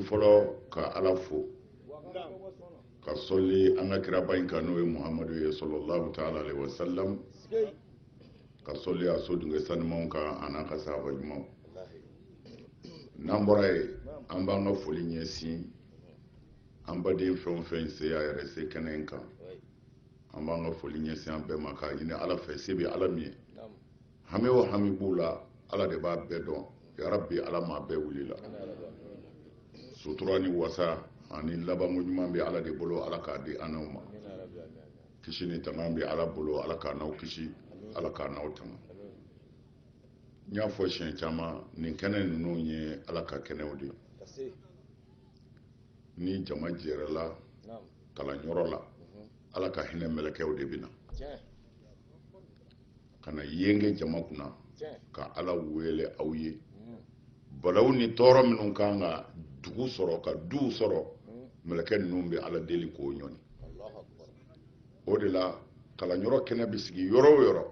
fɔlɔ ka ala fo ka sɔli an ka kiraba in kan n'o ye muhamadu ye sallallahu taala alayhi wa salam ka sɔli a so dunke sanumanw kan a n'a ka sahaba ɲumanw n'an bɔra ye an b'an ka foli ɲɛsin an baden fɛn o fɛn se a yɛrɛ se kɛnɛ in kan an b'an ka foli ɲɛsin an bɛɛ ma k'a ɲini ala fɛ se bɛ ala min ye hami o hami b'u la ala de b'a bɛɛ dɔn yarabi ala m'a bɛɛ wulila sutura ni wasa ani labanko ɲuman bɛ ala de bolo ala k'a di an n'aw ma kisi ni tanga bɛ ala bolo ala k'an n'aw kisi ala k'an n'aw tanga n y'a fɔ siɲɛ caman nin kɛnɛ ninnu ye ala ka kɛnɛw de ye ni jama jɛrɛla kalanyɔrɔ la ala ka hinɛ mɛlɛkɛw de bɛ na ka na yenge jama kunna ka ala wele aw ye mm. balawu ni tɔɔrɔ minnu kan ka dugu sɔrɔ ka duw sɔrɔ mm. mɛlɛkɛ ninnu bɛ ala deli k'o ɲɔni o de la kalanyɔrɔ kɛnɛ bɛ sigi yɔrɔ o yɔrɔ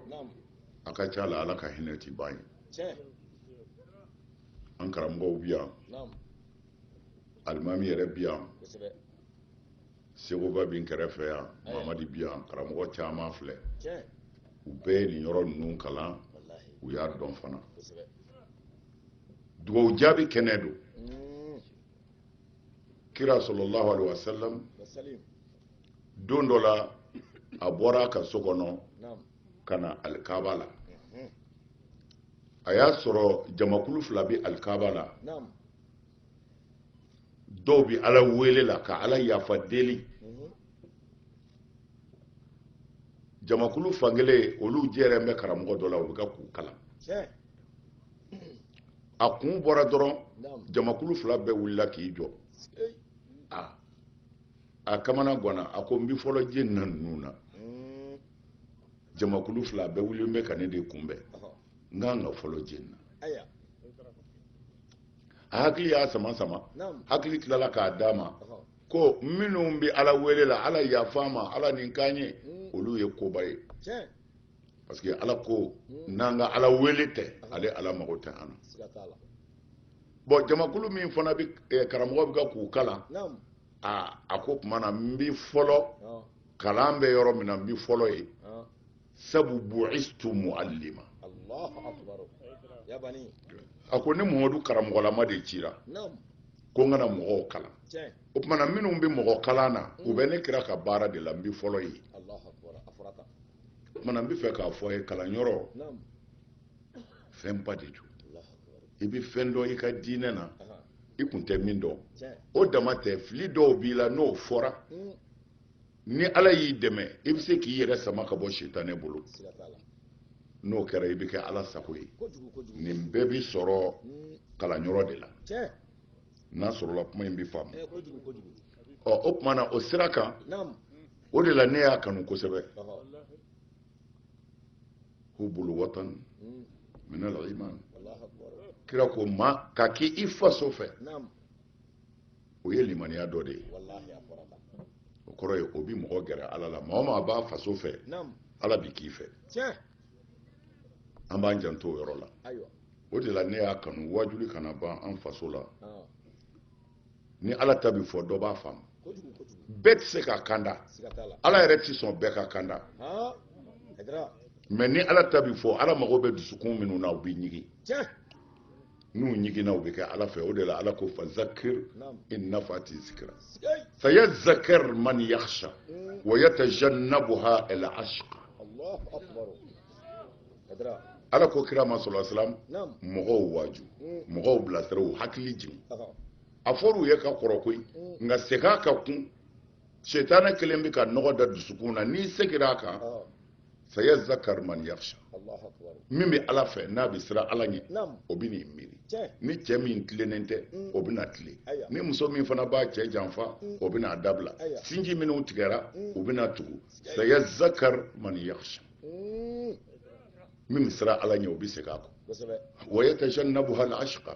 a ka ca la ala ka hinɛ ti ban ye an karamɔgɔw bi yan alimami yɛrɛ bi yan sekuba bi n kɛrɛfɛ yan eh. mamadi bi yan karamɔgɔ caman filɛ u bɛɛ ye nin yɔrɔ ninnu kalan u y'a dɔn fana dugawu jaabi kɛnɛ don hmm. kira sallallahu alaihi wasallam don dɔ la a bɔra a ka so kɔnɔ ka na alikaba la hmm. a y'a sɔrɔ jamakulu fila bɛ alikaba la dɔw bi ala wele la ka ala yafa deli jamakulu fankelen olu jɛrɛlen bɛ karamɔgɔ dɔ la o bɛ kan k'u kalan a kun bɔra dɔrɔn jamakulu fila bɛɛ wulila k'i jɔ a kamana gwanna a ko n bi fɔlɔ jɛn na ninnu na mm. jamakulu fila bɛɛ wulilen bɛ ka ne de kunbɛn n ka kan ka fɔlɔ jɛn na a hakili y'a sama sama hakili tilala k'a d'a ma ko minnu bɛ ala wele la ala yafa ma ala nin kan ye mm. olu ye koba ye parce que ala ko mm. n'an ka ala wele tɛ ale ala mago tɛ an na bon jamakulu min fana bɛ eh, karamɔgɔ bɛ kan k'u kalan a a k'o tuma na n bi fɔlɔ kalan bɛ yɔrɔ min na n bi fɔlɔ ye sabu bu'istu mu'allima a ko ne mamadu karamɔgɔlama de cira ko n ka na mɔgɔw kalan o tumana minnu bɛ mɔgɔ kalan na u bɛ ne kira ka baara de la n bi fɔlɔ ye o tumana n bɛ fɛ k'a fɔ a ye kalanyɔrɔ fɛnba de don i bɛ fɛn dɔn i ka diinɛ na i kun tɛ min dɔn o dama tɛ fili dɔw b'i la n'o fɔra ni ala y'i dɛmɛ i bɛ se k'i yɛrɛ sama ka bɔ sitanɛ bolo n'o kɛra i bɛ kɛ ala sago ye nin bɛɛ bi sɔrɔ kalanyɔrɔ de la n'a sɔrɔla kuma in bɛ faamu ɔ o tuma na o sira kan o de la ne y'a kanu kosɛbɛ hubbul watan hmm. minal iman kira ko maa ka k'i faso fɛ o ye limaniya dɔ de ye o kɔrɔ ye o bi mɔgɔ gɛrɛ ala la maa o maa b'a faso fɛ ala bi k'i fɛ an b'an janto o yɔrɔ la o de la ne y'a kanu waajuli kana ban an faso la ni ala ta bi fɔ dɔ b'a faamu bɛɛ tɛ se ka kanda ala yɛrɛ tɛ sɔn bɛɛ ka kanda mɛ ni ala ta bi fɔ ala mago bɛ dusukun minnu na u bɛ ɲigin n'u ɲiginna u bɛ kɛ ala fɛ o de la ala ko fa zakir in nafati zikra saya zakar man yakhsha hmm. wa yatajannabuha al ashqa ala ko kira ma sallallahu alaihi wasallam mɔgɔw waaju hmm. mɔgɔw bilasira u hakili jigin a fɔr'u ye ka kɔrɔ koyi hmm. nka segin a kan kun setanɛ kɛlen bɛ ka nɔgɔ da dusukun na n'i seginna a kan saya zakar man yakhsha min bɛ ala fɛ n'a bɛ siran ala ɲɛ o bɛn'i miiri ni cɛ min tilennen tɛ mm. o bɛna tilen ni muso min fana b'a cɛ janfa mm. o bɛn'a dabila sinji minnu tigɛra mm. u bɛna tugu saya zakar man yakhsha min bɛ siran ala ɲɛ o bɛ segin a kɔ wa yatajannabuha al-ashqa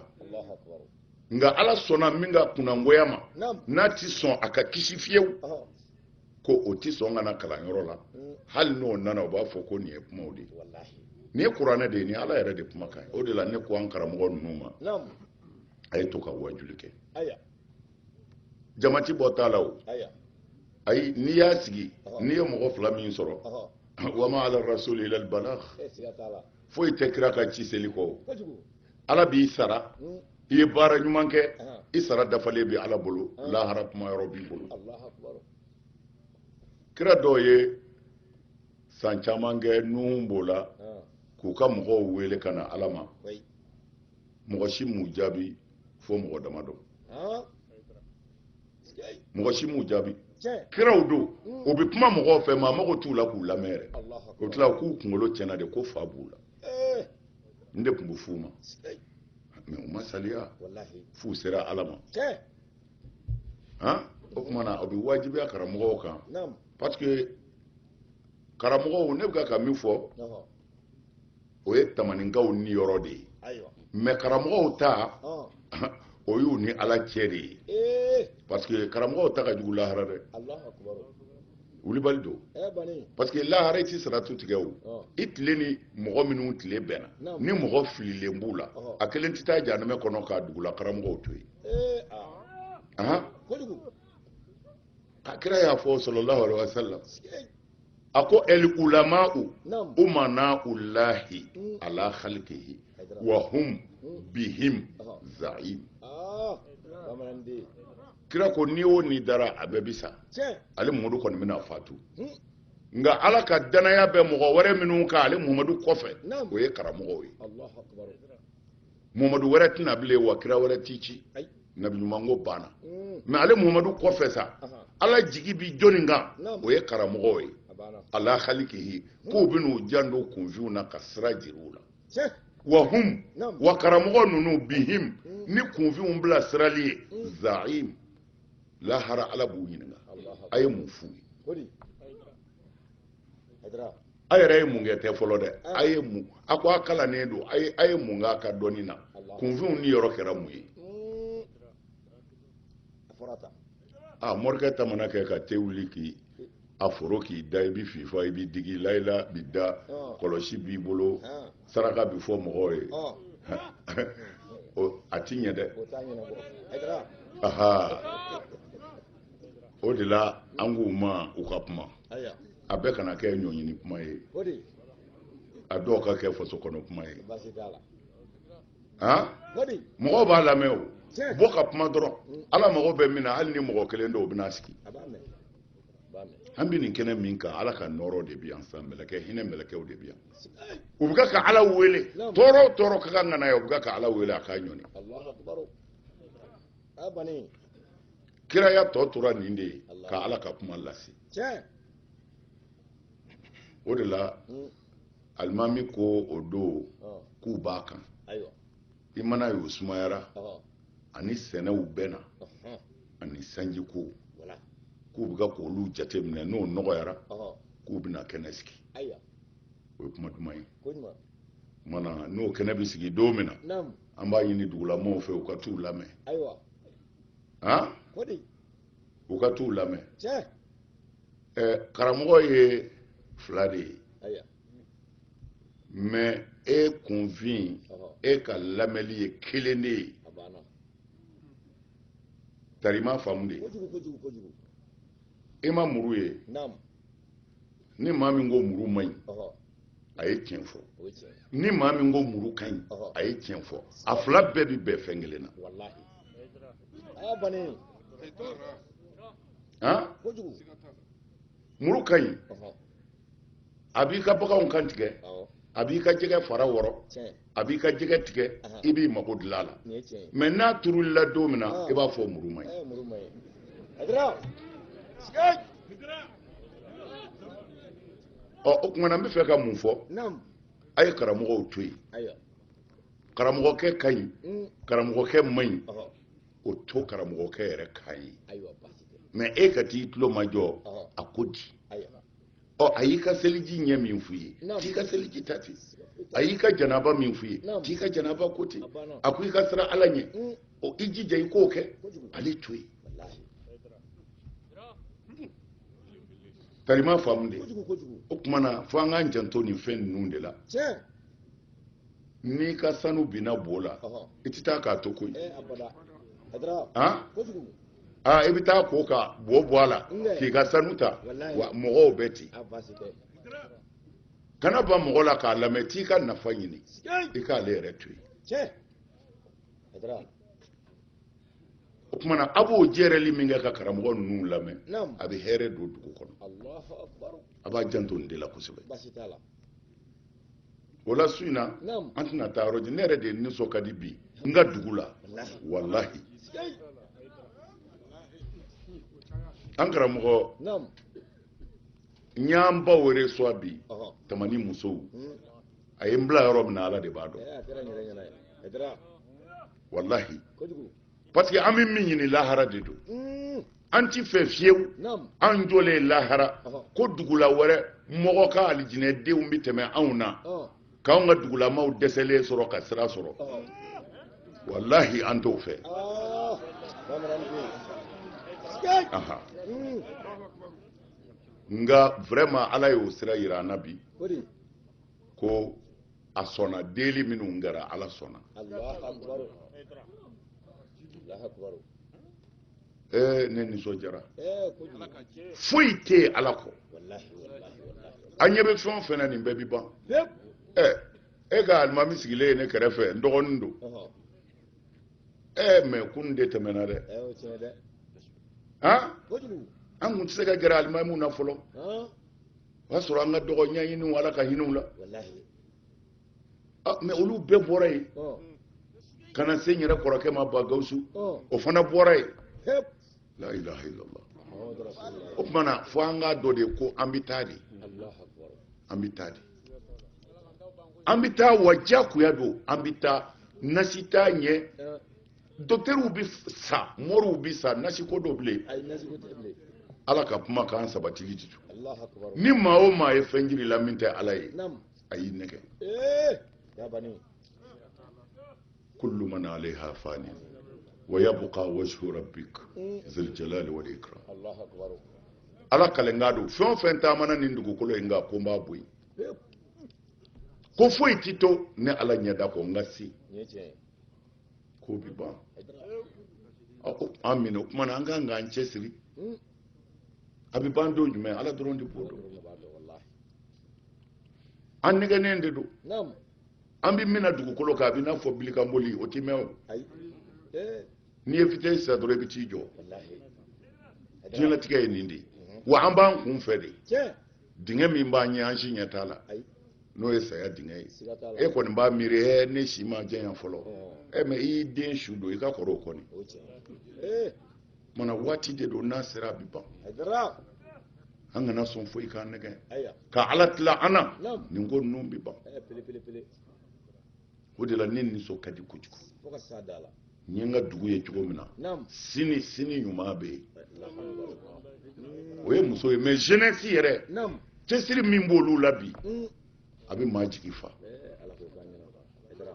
nka ala sɔnna min ka kunnangoya ma n'a ti sɔn a ka kisi fiyewu ko o tɛ sɔn ka na kalanyɔrɔ la mm. hali n'o nana o b'a fɔ ko nin ye kumaw de ye nin ye kuranɛ de ye nin ala yɛrɛ de kumakan o de la ne ko an karamɔgɔ ninnu ma a ye to ka wajuli kɛ jama ti bɔ t'a la o ayi n'i y'a sigi n'i ye mɔgɔ fila min sɔrɔ wama ala rasuli ilal balagh foyi tɛ kira kan ci seli kɔ ala b'i sara hmm. i ye baara ɲuman kɛ i sara dafalen bɛ ala bolo ah. lahara kuma yɔrɔ b'i bolo kira dɔw ye san caman kɛ nuhun b'o la ah. k'u ka mɔgɔw wele ka na ala ma mɔgɔ si m'u jaabi fo mɔgɔ damadɔ ah. mɔgɔ si m'u jaabi kiraw don hmm. u bɛ kuma mɔgɔw fɛ maa mago t'u la k'u lamɛn yɛrɛ o tila k'u kunkolo tiɲɛna de ko fa b'u la eh. nin de tun bɛ f'u ma mɛ u ma saliya f'u sera ala ma o tuma na o bɛ wajibiya karamɔgɔw kan parce que karamɔgɔw ne bɛ ka min fɔ o ye tamaninkaw niyɔrɔ de ye mɛ karamɔgɔw ta o y'u ni ala cɛ de ye eh. parce que karamɔgɔw ta ka jugu lahara dɛ wulibali don eh, parce que lahara i ti saratu tigɛ o i tile ni mɔgɔ minnu tile bɛnna ni mɔgɔ fililen b'u la a kelen tɛ taa janamɛ kɔnɔ k'a dugula karamɔgɔw to yen eh, ah. a kira y'a fɔ sallallahu alaihi wasallam a ko el ulama'u umana'ullahi mm. ala khalqihi wa hum mm. bihim za'im ah, kira ko ni o ni dara a bɛɛ bi sa ale muhamadu kɔni bɛna fatu hmm. nka ala ka danaya bɛ mɔgɔ wɛrɛ minnu kan ale muhamadu kɔfɛ o ye karamɔgɔw ye muhamadu wɛrɛ tɛ na bilen wa kira wɛrɛ ti ci nabiɲuman ko banna mm. mɛ ale muhamadu kɔfɛ sa ala jigi bi jɔni kan o ye karamɔgɔw ye ala khalqihi mm. k'u bɛn'u janto kunfinw na ka sira jir'u la wa hum wa karamɔgɔ ninnu bihim mm. ni kunfinw bilasirali ye za'im lahara ala b'u ɲininka a ye mun f'u ye a yɛrɛ ye mun kɛ tɛ fɔlɔ dɛ ah. a ye mun a ko a kalannen don a ye mun k'a ka dɔnni na kunfinw niyɔrɔ kɛra mun ye hmm. a morikɛ ta mana kɛ ka te wuli k'i a foro k'i da i bɛ fifa i bɛ digi layila b'i da ah. kɔlɔsi b'i bolo ah. saraka bi fɔ mɔgɔw ye a ti ɲɛ dɛ o de la an k'u ma u ka kuma a bɛɛ kana kɛ ɲɔɲini kuma ye a dɔw ka kɛ faso kɔnɔ kuma ye mɔgɔw b'a lamɛn o bɔ ka kuma dɔrɔn mm. ala mago bɛ min na hali ni mɔgɔ kelen dɔw bɛna sigi an bɛ nin kɛnɛ min kan ala ka nɔɔrɔ de bi yan san mɛlɛkɛ hinɛ mɛlɛkɛw de bi yan u bɛ ka ala wele tɔɔrɔ o tɔɔrɔ ka kan ka na yan u bɛ ka ala wele a k'a ɲɔni kiraya tɔ tora nin de ye ka ala ka kuma lase o de la mm. alimami ko o don k'u b'a kan i man'a ye o sumayara a ni sɛnɛw bɛnna ani sanjiko k'u bɛ ka k'olu jateminɛ n'o nɔgɔyara k'u bɛna kɛnɛ sigi o ye kuma duman ye mana n'o kɛnɛ bɛ sigi don min na an b'a ɲini dugulamɔgɔw fɛ u ka t'u lamɛn u ka t'u lamɛn karamɔgɔ ye fila de ye mais e kunfin e ka lamɛnli ye kelen de ye tari i m'a faamu de e ma muru ye ni maa min ko muru man ɲi a ye tiɲɛ fɔ ni maa min ko muru ka ɲi a ye tiɲɛ fɔ a fila bɛɛ bi bɛn fɛn kelen na muru ka ɲi a b'i ka baganw kan tigɛ a b'i ka jɛgɛ fara wɔrɔ a b'i ka jɛgɛ tigɛ i b'i mago dilan a la mais n'a turul'i la don min na ah. i b'a fɔ muru man ɲi ɔ o kuma na n bɛ fɛ ka mun fɔ a ye karamɔgɔw to yen karamɔgɔkɛ ka ɲi mm. karamɔgɔkɛ man ɲi o to karamɔgɔkɛ yɛrɛ kan yen mais e ka t'i tulo majɔ a ko di ɔ a y'i ka seliji ɲɛ min fɔ i ye t'i ka seliji ta ten a y'i ka janaba min fɔ i ye t'i ka janaba ko ten a ko i ka siran ala ɲɛ mm. o i jija i k'o kɛ ale to yen tari i m'a faamu de o kuma na fo an k'an janto nin fɛn ninnu de la n'i ka sanu binna bo la i tɛ taa k'a to koyi eh, aa i bɛ t'a ko ka bo bɔ a la k'i ka sanu ta wa mɔgɔw bɛ ten kana ban mɔgɔ la k'a lamɛn t'i ka nafa ɲini i k'ale yɛrɛ to yen o kuma na a b'o jɛrɛli min kɛ ka karamɔgɔ ninnu lamɛn a bɛ hɛrɛ don dugu kɔnɔ a b'a janto nin de la kosɛbɛ o la su in na an tɛna taa yɔrɔ jan ne yɛrɛ de nisɔn ka di bi n ka dugu la walahi an karamɔgɔ n y'an baw reçoit bi tamani musow hmm. a ye n bila yɔrɔ min na ala de b'a dɔn walahi parce que an bɛ min ɲini lahara de don hmm. an ti fɛ fiyewu an jɔlen lahara ko dugula wɛrɛ mɔgɔ ka alijinɛdenw bɛ tɛmɛ anw na k'anw ka dugulamaw dɛsɛlen sɔrɔ ka sira sɔrɔ walahi an t'o fɛ hmm. nka vraiment ala y'o sira yira an na bi ko a sɔnna deli minnu kɛra ala sɔnna ee ne nisɔndiyara foyi tɛ yen ala kɔ an ɲɛ bɛ fɛn o fɛn na nin bɛɛ bi ban ɛ e ka alimami sigilen ye ne kɛrɛfɛ n dɔgɔnin don ɛ mais kunun de tɛmɛna dɛ an kun tɛ se ka gɛrɛ alimamiw na fɔlɔ o y'a sɔrɔ an ka dɔgɔ ɲɛɲiniw ala ka hinɛ u la ah, mais olu bɛɛ bɔra yen ka na se n yɛrɛ kɔrɔkɛ ma ba gawusu o fana bɔra yen la ilaha illallah o tuma na fo an k'a dɔn de ko an bɛ taa de an bɛ taa de an bɛ taa wa diyagoya don an bɛ taa nasi t'a ɲɛ docteurw bɛ sa mɔriw bɛ sa nasiko don bilen ala ka kumakan sabatili di ni maa o maa ye fɛn jir'i la min tɛ ala ye a y'i nɛgɛn eh! kullu man alayha fani wa yabqa wajhu rabbik eh! zil jalali wal ikram ala kalikan don fɛn o fɛn taamana nin dugukolo in kan ko n b'a bɔ yen eh! ko foyi ti to ne ala ɲɛda kɔ n ka se k'o bɛ ban an minɛ o kuma na an kan k'an cɛsiri a bɛ ban don jumɛn ala dɔrɔn de b'o dɔn an nɛgɛnnen de don an bɛ min na dugukolo kan a bɛ n'a fɔ bilikanboli o tɛ mɛn o n'i ye vitesse ta dɔrɔn i bɛ t'i jɔ diɲɛlatigɛ ye nin de ye wa an b'an kun fɛ de dingɛ min b'an ɲɛ an si ɲɛ t'a la n'o ye saya dingɛ ye e kɔni b'a miiri ɛ ne si ma janya fɔlɔ ɛ mais i y'i den su don i ka kɔrɔ o kɔni mana waati de don n'a sera a bɛ ban an kana sɔn foyi k'an nɛgɛn ka ala tila an na nin ko ninnu bɛ ban o de la ne nisɔn ka di kojugu n ye n ka dugu ye cogo min na sini sini ɲuman bɛ yen o ye muso ye mais jeunesse yɛrɛ cɛsiri min b'olu la bi mm. a bɛ maa jigi fa eh,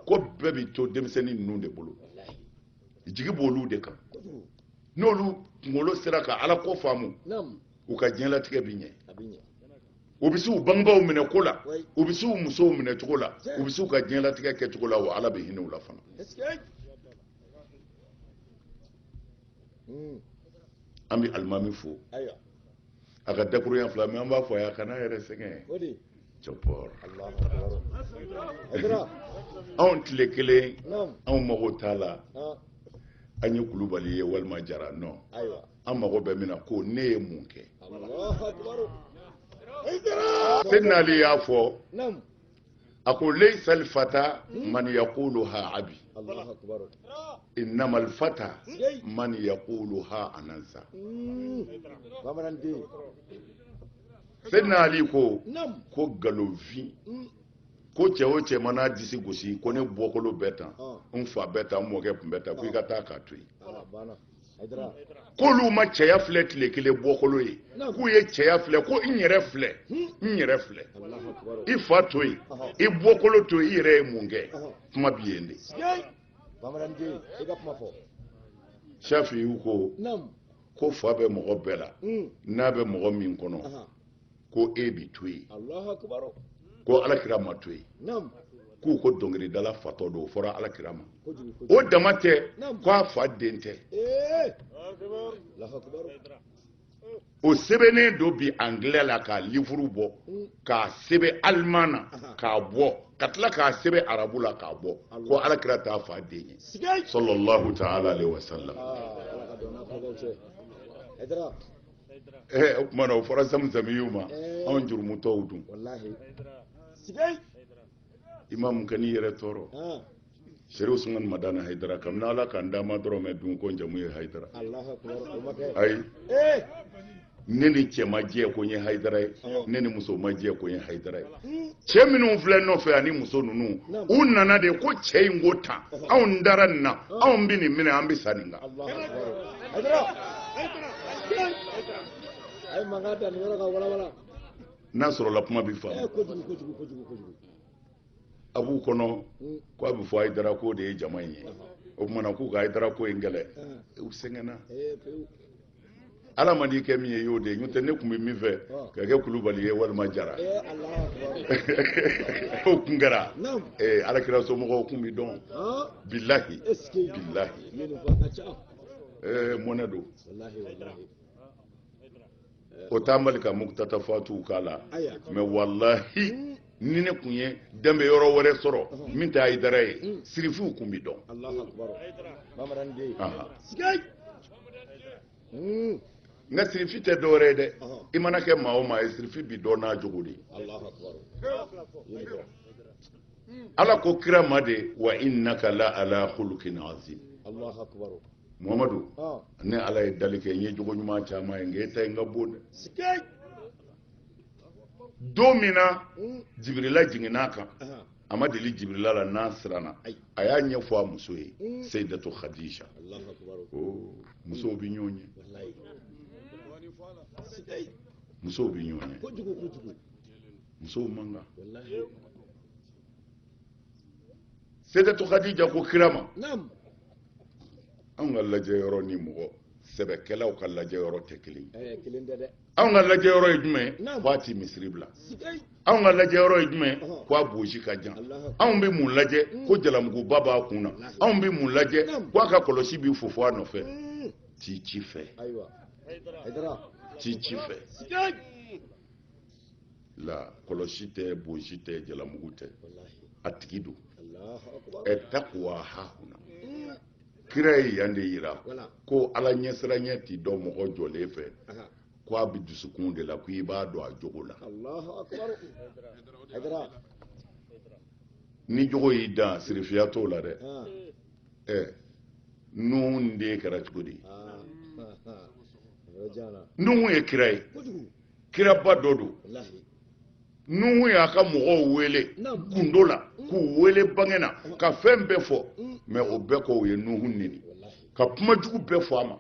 ko bɛɛ bɛ to denmisɛnnin ninnu de bolo jigi b'olu de kan n'olu kunkolo sera ka ala ko faamu u ka diɲɛlatigɛ bi ɲɛ u bɛ se u bangebaaw minɛ ko la u bɛ se u musow minɛ cogo la u bɛ se u ka diɲɛlatigɛ kɛ cogo la wa ala bɛ hinɛ u la fana hmm. an bɛ alimami fo a ka dakuruɲɛ fila mais an b'a fɔ a ye a kan'a yɛrɛ sɛgɛn cɛpɔr anw tile kelen anw mago t'a la an ye kulubali ye walima jara nɔ an mago bɛ min na ko ne ye mun kɛ seyidina ali y'a fɔ a ko layisa alfata hmm? man yaqulu ha abi innama alfata man yaqulu ha anaza hmm. seyidina ali ko ko nkalonfin hmm. ko cɛ o cɛ man'a disi gosi ko ne bɔkolo bɛ tan ah. n fa bɛ tan n mɔkɛ tun bɛ tan ko i ka ah. taa k'a to yen ah, k'olu ma cɛya filɛ tile kelen bɔkolo ye k'u ye cɛya filɛ ko n yɛrɛ filɛ n yɛrɛ filɛ i fa to yen i bɔkolo to yen i yɛrɛ ye mun kɛ kuma bi yen de safiyu ko ko fa bɛ mɔgɔ bɛɛ la n'a bɛ mɔgɔ min kɔnɔ ko e bi to yen ko alakira ma to yen k'u ko dɔnkilidala fatɔ don o fɔra alakira ma o dama tɛ ko a fa den tɛ eh. o sɛbɛnnen don bi angilɛ la k'a livuru bɔ mm. k'a sɛbɛn aliman na k'a bɔ ka tila k'a sɛbɛn arabu la k'a bɔ ko alakira t'a fa den ye salalahu taala alehi wa salam. Ah, eh, o tuma na o fɔra zamuzamiyu ma eh. anw jurumutɔw dun imamu kan'i yɛrɛ tɔɔrɔ ah. serifu usumani madani hayidara kabini ala kan dama dɔrɔn mɛ dun ko n jamu ye hayidara ayi eh. ne ni cɛ ma jɛ ko n ye hayidara ye ah. ne ni muso ma jɛ ko n ye hayidara ye cɛ minnu filɛ nɔfɛ ani muso ninnu u nana de ko cɛ in ko tan anw dara nin na anw bɛ nin minɛ an bɛ sa nin kan n'a sɔrɔla kuma bɛ faamu a b'u kɔnɔ ko a bɛ fɔ hayidara ko de ye jama in ye o tumana k'u ka hayidara ko in kɛlɛ u sɛgɛnna ala man'i kɛ min ye y'o de ye n'o tɛ ne tun bɛ min fɛ ka kɛ kulubali ye walima jara o kun kɛra alakira somɔgɔw kun bɛ dɔn bilahi bilahi mɔnɛ don o t'an bali ka mukutata fatuw k'a la mɛ walahi ni ne kun ye danbe yɔrɔ wɛrɛ sɔrɔ min tɛ hayidara ye mm. sirifiw kun bɛ dɔn mm. nka sirifi tɛ dɔwɛrɛ ye dɛ i mana kɛ maa o maa ye sirifi bi dɔn n'a jogo de ala ko kira ma de wa innaka la ala khuluqin azim muhamadu ne ala ye dali kɛ n ye jogo ɲuman caman ye nka e ta in ka bon dɛ don min na jibirila jiginna a kan a ma deli jibirila la n'a siranna a y'a ɲɛfɔ a muso ye seyidatu khadija musow bɛ ɲɔgɔn ɲɛ musow bɛ ɲɔgɔn ɲɛ musow man kan seyidatu khadija ko kira ma anw ka lajɛ yɔrɔ ni mɔgɔ sɛbɛkɛlaw ka lajɛ yɔrɔ tɛ kelen ye anw ka lajɛ yɔrɔ ye jumɛn ye k'a ti misiri bila anw ka lajɛ yɔrɔ ye jumɛn ye k'a bosi ka jan anw bɛ mun lajɛ mm. ko jalamuguba b'a kun na anw bɛ mun lajɛ k'a ka kɔlɔsi b'i fofo a nɔfɛ mm. t'i ci fɛ t'i ci fɛ la kɔlɔsi tɛ bosi tɛ jalamugu tɛ a tigi don ɛ takuwa hahuna mm. kira ye yan de yira ko ala ɲɛsiranya ti dɔn mɔgɔ jɔlen fɛ ko a bɛ dusukun de la ko i b'a dɔn a jogo la ni jogo y'i dan sirifiya t'o la dɛ ɛ nuhu den kɛra cogo di nuhu ye kira ye kiraba dɔ don nuhu y'a ka mɔgɔw wele gundo la mm. k'u wele bange na mm. ka fɛn bɛɛ fɔ mais mm. o bɛɛ kɔ o ye nuhu neni ka kuma jugu bɛɛ fɔ a ma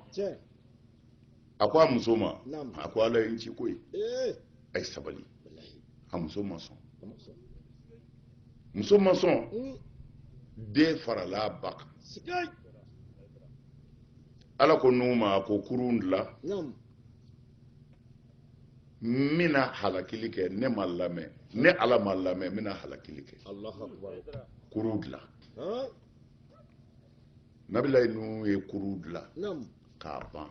a ko a muso ma a ko ala ye n ci koyi eh. a ye sabali a muso ma sɔn muso ma sɔn den farala a ba kan ala ko nuhu ma a ko kurun dilan n bɛna halakili kɛ ne ma lamɛn ne ala ma lamɛn n bɛna halakili kɛ kurun dilan nabilayi nuhu ye kurun dilan k'a ban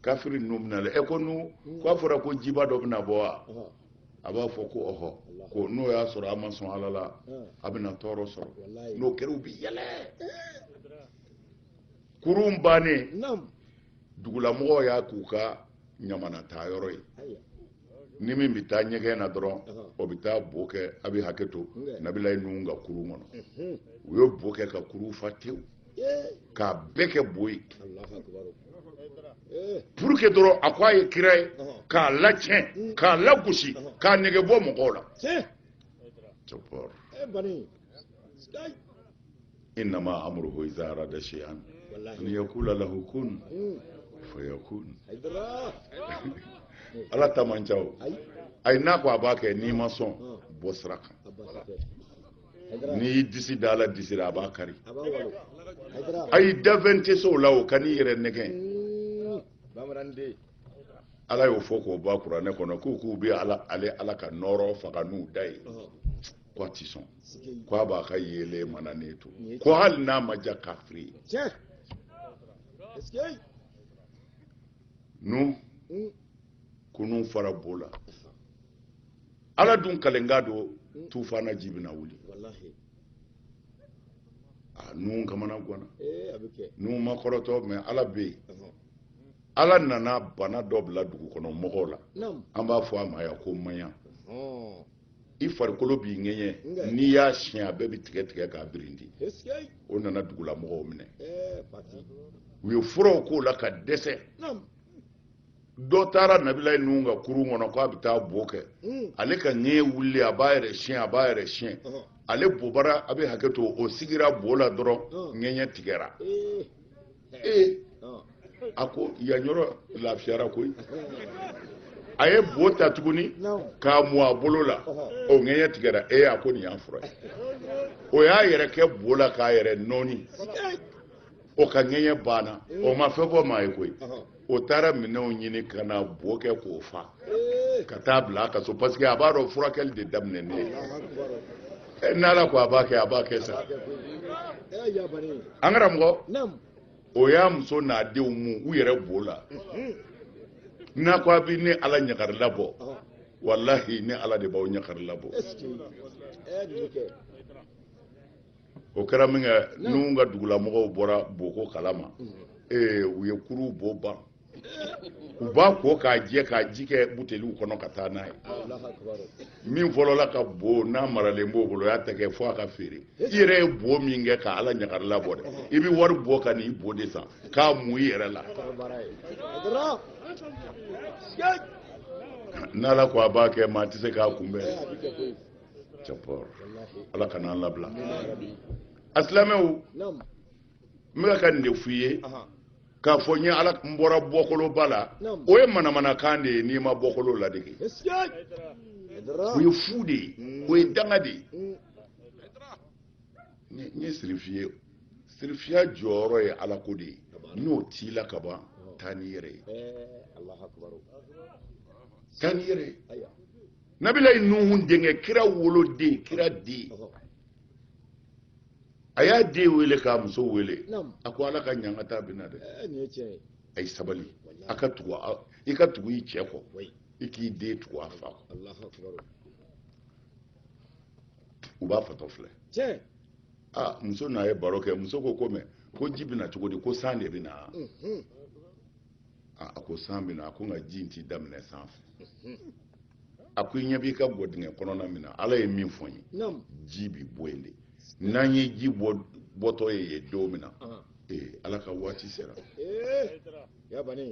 kafiri ninnu bɛna lɛ ɛ ko nuhu k'a fɔra ko jiba dɔ bɛna bɔ wa a b'a fɔ ko ɔhɔ ko n'o y'a sɔrɔ a ma sɔn ala la a bɛna tɔɔrɔ sɔrɔ n'o kɛra u bɛ yɛlɛ kurun bannen dugulamɔgɔw y'a k'u ka ɲamana taa yɔrɔ ye ni min bɛ taa ɲɛgɛn na dɔrɔn o bɛ taa bo kɛ a bɛ hakɛ to nabilayi nuhu ka kurun kɔnɔ u ye bo kɛ ka kurun fa tewu k'a bɛɛ kɛ bo ye pour que dɔrɔn a ko a ye kira ye k'a lacɛn k'a lagosi k'a nege bɔ mɔgɔw la innama amruhu idza arada shay'an an yaqula lahu kun fayakun ala ta man ca o ayi n'a ko a b'a kɛ n'i ma sɔn bɔ sira kan n'i y'i disi da ala disi la a b'a kari ayi danfɛn tɛ se o la o kan'i yɛrɛ nɛgɛn ala y'o fɔ k'o bɔ a kuranɛ kɔnɔ k'u k'u bɛ ala ale ala ka nɔɔrɔ faga n'u da ye ko a tɛ sɔn ko a b'a ka yeelen mananen to ko hali n'a ma diya kafiri ye nuhu hmm. kurun fara bo la ala dun kalenkan don hmm. tufana ji bɛna wuli a nuhu kamana gwanna eh, nuhu ma kɔrɔtɔ ne ala bɛ yen ala nana bana dɔ bila dugu kɔnɔ mɔgɔw la an b'a fɔ a ma yan ko maɲa i farikolo b'i ŋɛɲɛ n'i y'a siɲɛ a bɛɛ bɛ tigɛ tigɛ k'a birindi o nana dugulamɔgɔw minɛ u ye furaw k'o la ka dɛsɛ dɔ taara nabilayi nuhu ka kurun kɔnɔ k'a bɛ taa bo kɛ hmm. ale ka ŋɛɲɛ wulilen a b'a yɛrɛ siɲɛ a b'a yɛrɛ siɲɛ ale bobara a bɛ hakɛ to o sigira bo la dɔrɔn ŋɛɲɛ tigɛra eh. ee a ko yan yɔrɔ lafiyara koyi a ye bo ta tuguni k'a mu a bolo la o ŋɛɲɛ tigɛra ee a ko nin y'a fura ye o y'a yɛrɛ kɛ bo la k'a yɛrɛ nɔɔni o ka ŋɛɲɛ banna o ma fɛn fɔ maa ye koyi o taara minɛnw ɲini ka na bo kɛ k'o fa ka taa bila a ka so parce que a b'a dɔn furakɛli de daminɛnen ye eh, n'ala ko a b'a kɛ a b'a kɛ sa an karamɔgɔ o y'a muso n'a denw mu u yɛrɛ bo la n'a ko a bɛ ne ala ɲagari labɔ walahi ne ala de b'aw ɲagari labɔ o kɛra min kɛ nuhu ka dugulamɔgɔw bɔra bo ko kalama ee u ye kurun bo ban u b'a ko k'a jɛ k'a ji kɛ buteliw kɔnɔ ka taa n'a ye min fɔlɔla ka bo n'a maralen b'o bolo o y'a tɛgɛ fo a ka feere i yɛrɛ ye bo min kɛ ka ala ɲagari labɔ dɛ i bɛ wari bɔ ka n'i bo de san k'a mu i yɛrɛ la n'ala ko a b'a kɛ maa tɛ se k'a kunbɛn ala kana an labila a silamɛw n bɛ ka nin de f'i ye k'a fɔ n ye ala n bɔra bɔkoloba la o ye manamanakan de ye n'i ma bɔkolo ladege o ye fu de ye mm. o ye danga de ye mm. n ye sirifi ye sirifiya jɔyɔrɔ ye ala ko de ye n'o t'i la ka ban taa n'i yɛrɛ ye eh, taa n'i yɛrɛ ye nabilayi nuhu denkɛ kira woloden kira den a y'a den wele k'a muso wele a ko ala ka ɲangata bɛna dɛ eh, a ye sabali a ka tugu i ka tugu i cɛ kɔ i k'i den tugu a fa kɔ u b'a fatɔ filɛ aa muso n'a ye baro kɛ muso ko ko mɛ ko ji bɛna cogo di ko san de bɛ na a ko san bɛ na a ko nka ji in t'i daminɛ san fɛ a ko i ɲɛ b'i ka gwadingɛ kɔnɔna min na ala ye min fɔ n ye ji bi bɔ yen de n'an ye ji bɔtɔ ye yen don min na ee ala ka waati sera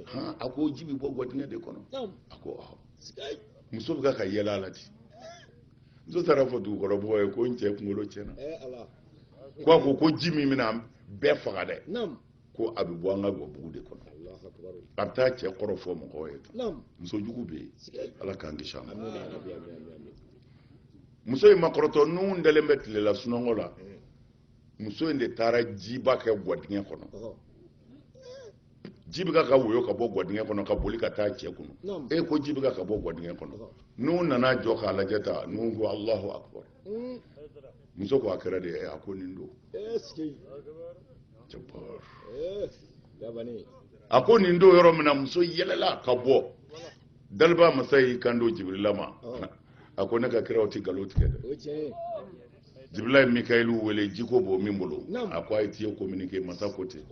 han a ko ji bi bɔ gwadingɛ de kɔnɔ a ko ɔhɔ muso bɛ ka ka yɛlɛ a la ten muso taar'a fɔ dugukɔnɔmɔgɔw ye ko n cɛ kunkolo tiɲɛna ko a ko ko ji min bɛna bɛɛ faga dɛ ko a bɛ bɔ an ka gabugu de kɔnɔ a bɛ taa cɛ kɔrɔfɔ mɔgɔw ye muso jugu bɛ yen ala k'an kisi a ma muso in ma kɔrɔtɔ nuhu dalen bɛ tilela sunɔgɔ la muso in de taara jiba kɛ gwadingɛ kɔnɔ ji bɛ ka woyo ka bɔ gwadingɛ kɔnɔ ka boli ka taa cɛ kunun e ko ji bɛ ka bɔ gwadingɛ kɔnɔ nuhu nana jɔ k'a lajɛ tan nuhu ko alahu akubar hmm. muso ko a kɛra de a ko nin don a ko nin don yɔrɔ min na muso yɛlɛla ka bɔ daliba masa y'i kan don jibirila ma a ko ne ka kiraw tɛ nkalon tigɛ dɛ jibirila ye mikayilu wele jiko b'o min bolo a ko a ye tiyo kominike masa ko ten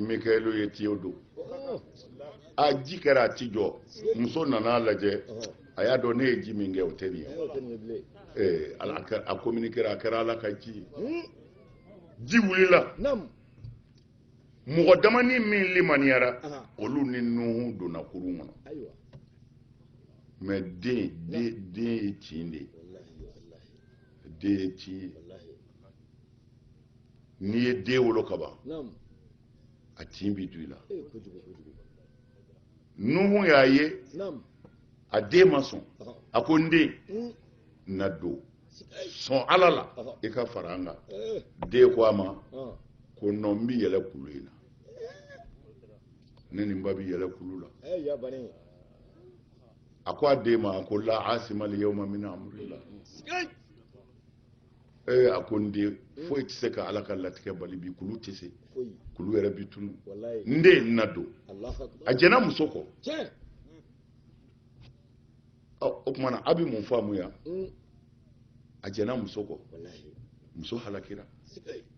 mikayilu ye tiyow don a ji kɛra a ti jɔ muso nana lajɛ a y'a dɔn ne ye ji min kɛ o tɛ nin ye ee ala a kɛra- a communiquera a kɛra ala ka ji ye Hmm. ji wulila Nam. mɔgɔ damani min limaniyara Aha. olu ni nuhu donna kurun kɔnɔ Ayiwa. mɛ den den den ye tin de ye Wallahi, wallahi, den ye tin ye wallahi. n'i ye den wolo kaban a tin bɛ don i la nuhu y'a ye a den ma sɔn a ko n den hmm. na don sɔn ala la i ka fara an kan eh. den ko a ma ah. ko nɔ n bɛ yɛlɛ kulu in na ne ni n ba bɛ yɛlɛ kulu la eh, a ko a den ma ko la asimali yawma min amrillah ee a ko n den foyi tɛ se ka ala ka latigɛ bali bi kulu tɛ se kulu yɛrɛ bi tunu n den na don a jɛna muso kɔ o tuma na a bɛ mun faamu yan mm. a jɛna muso kɔ muso halakira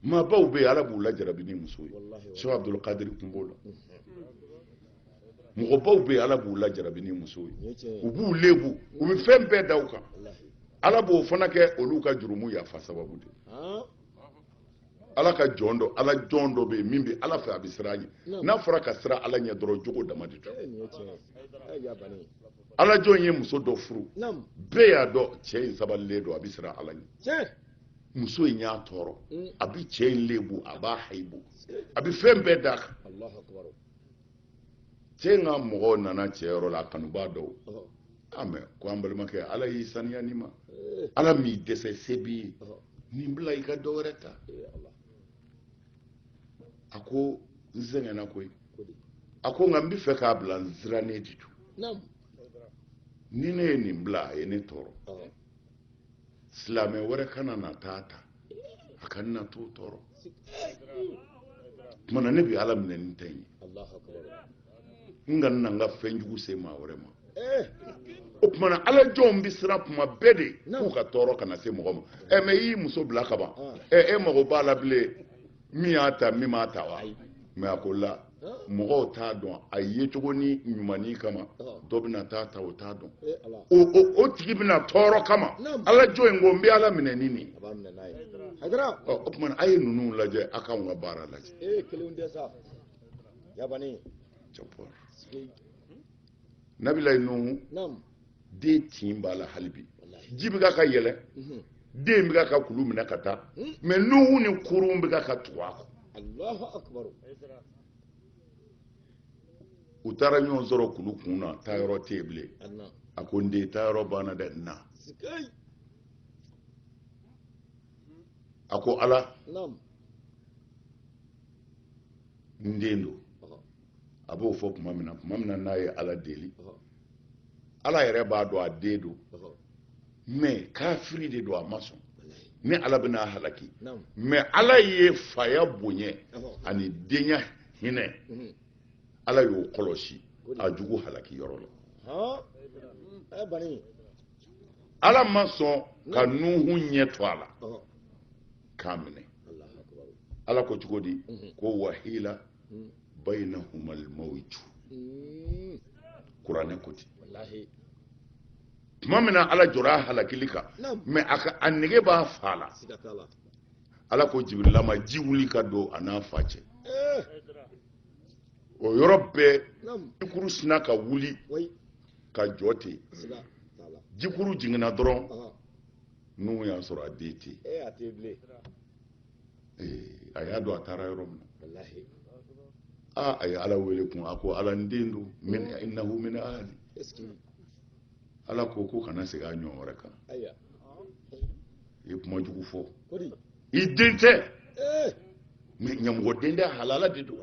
maabaw bɛ yen ala b'u lajarabi ni muso ye sɛki abudulkadiri tun b'o la mm-hmm. mɔgɔbaw bɛ yen ala b'u lajarabi ni musow ye u b'u lebu u bɛ fɛn bɛɛ da u kan ala b'o fana kɛ olu ka jurumu yafa sababu de ala ka jɔn dɔ ala jɔn dɔ bɛ yen min bɛ ala fɛ a bɛ siran a ɲɛ n'a fɔra ka siran ala ɲɛ dɔrɔn jogo dama de don ala jɔn ye muso dɔ furu bɛɛ y'a dɔn cɛ in sabalilen don a bɛ siran ala ɲɛ muso in y'a tɔɔrɔ mm. a bɛ cɛ in lebu a b'a hayibu a bɛ fɛn bɛɛ d'a kan cɛ in ka mɔgɔw nana cɛ yɔrɔ la a kanubaa dɔw a mɛ ko an balimakɛ ala y'i saniya nin ma ala m'i dɛsɛ se b'i ye nin bila i ka dɔ wɛrɛ ta a ko n sɛgɛnna koyi a ko nka n bɛ fɛ k'a bila n sirannen de don ni ne ye nin bila a ye ne tɔɔrɔ silamɛ wɛrɛ kana na t'a ta a ka na t'o tɔɔrɔ tuma na ne bɛ ala minɛ ni n ta in ye n kana n ka fɛn jugu se maa wɛrɛ ma eh. o tuma na ala jɔnw bɛ siran tuma bɛɛ de k'u ka tɔɔrɔ kana se mɔgɔ ma ɛ eh, mɛ i y'i muso bila ka ban ɛ ah. eh, e mago b'a la bilen min y'a ta min m'a ta wa mɛ a ko la mɔgɔw t'a dɔn a yecogonin ɲumannin kama dɔ bɛna t'a ta o t'a dɔn o tigi bɛna tɔɔrɔ o kama ala jɔn in ko n bɛ ala minɛ ni nin o tuma a ye ninnu lajɛ a k'anw ka baara lajɛ nabilayi nuhu den tin b'a la hali bi ji bɛ ka ka yɛlɛ mhm. den bɛ ka ka kulu minɛ ka taa hmm. mɛ nuhu ni kurun bɛ ka ka tugu a kɔ u taara ɲɔgɔn sɔrɔ kulu kun na taayɔrɔ tɛ yen bilen a ko n den taayɔrɔ banna dɛ na a ko ala n den don a b'o fɔ tuma min na tuma min na n'a ye ala deli ala yɛrɛ b'a dɔn a den don mɛ kafiri de don a ma sɔn ni ala bɛna a halaki mɛ ala ye faya bonya ani denya hinɛ mhm. ala y'o kɔlɔsi a jugu halaki yɔrɔ la ala ma sɔn ka nuhu ɲɛ to a la k'a minɛ ala ko cogo di mhm. ko wahila bayinahumali mawju hmm. kuranɛ ko ten tuma min na ala jɔra a halakili kan mɛ a ka a nege b'a fa la ala ko jibirila ma ji wuli ka don a n'a fa cɛ eh. o yɔrɔ bɛɛ jikuru sina ka wuli ka jɔ ten jikuru jiginna dɔrɔn nuhu y'a sɔrɔ a den tɛ a y'a dɔn a taara yɔrɔ min na aa a ye ala wele kun a ko ala n den don innahu min ahli ala ko ko kana segin a ɲɔgɔn wɛrɛ kan i ye kuma jugu fɔ i den tɛ eh. mɛ ɲamɔgɔ den tɛ halala den don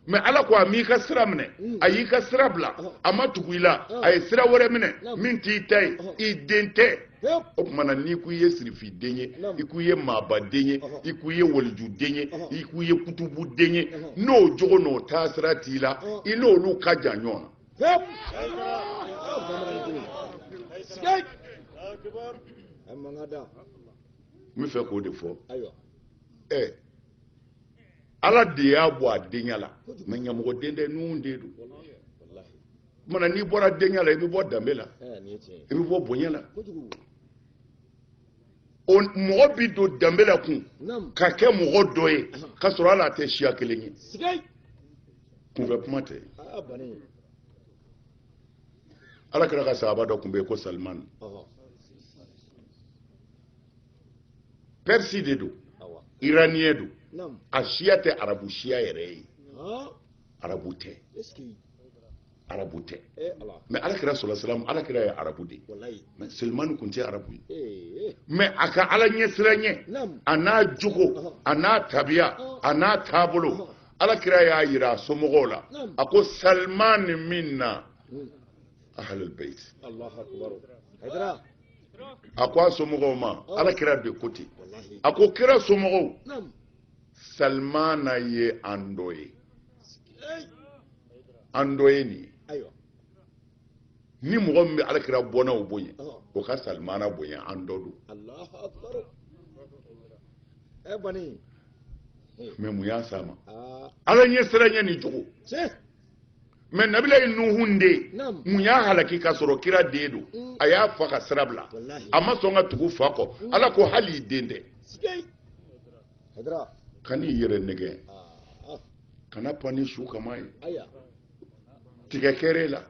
mɛ ala ko a m'i ka sira minɛ hmm. a y'i ka sira bila a ma tugu i la a ye sira wɛrɛ minɛ min t'i ta ye i den tɛ o tuma na n'i ko i ye sirifi den ye i ko i ye maaba den ye i ko i ye waliju den ye i ko i ye kutubu den ye n'o jogo n'o taasira t'i la i n'olu ka jan ɲɔgɔn na n bɛ fɛ k'o de fɔ ɛ ala de y'a bɔ a denya la mɛ ɲamɔgɔ den tɛ nuhun den don tuma na n'i bɔra denya la i bɛ bɔ danbe la i bɛ bɔ bonya la o mɔgɔ bɛ don danbe la kun ka kɛ mɔgɔ dɔ ye k'a sɔrɔ hali a tɛ siya kelen ye kunfɛ kuma tɛ ala kira ka sahaba dɔ tun bɛ yen ko salimani pɛrisi de don iraniyɛn don a siya tɛ arabu siya yɛrɛ ye arabu tɛ arabu tɛ eh, mɛ ala kira sallallahu alaihi wasallam ala kira ye arabu de mɛ salimani kun tɛ arabu ye eh, eh. mɛ a ka ala ɲɛsiranɲɛ a n'a jogo a n'a tabiya a n'a taabolo ala kira y'a yira a somɔgɔw la a ko salimani minna hmm. ahalul bait a ko a somɔgɔw ma ala kira de ko ten a ko kira somɔgɔw salmana ye an dɔ ye an dɔ ye nin ye ni mɔgɔ min bɛ alakira bɔnnaw bonya o ka salimana bonya an dɔ don mɛ mun y'a s'a ma ala ɲɛsiranɲɛ ni jogo mɛ nabilayi nuhun den mun y'a halaki k'a sɔrɔ kira den don mm. a y'a fa ka sira bila a ma sɔn ka tugu fa kɔ mm. ala ko hali i den tɛ hayidara kan'i yɛrɛ nɛgɛn kana pan ni su kaman ye tigɛ kɛr'e la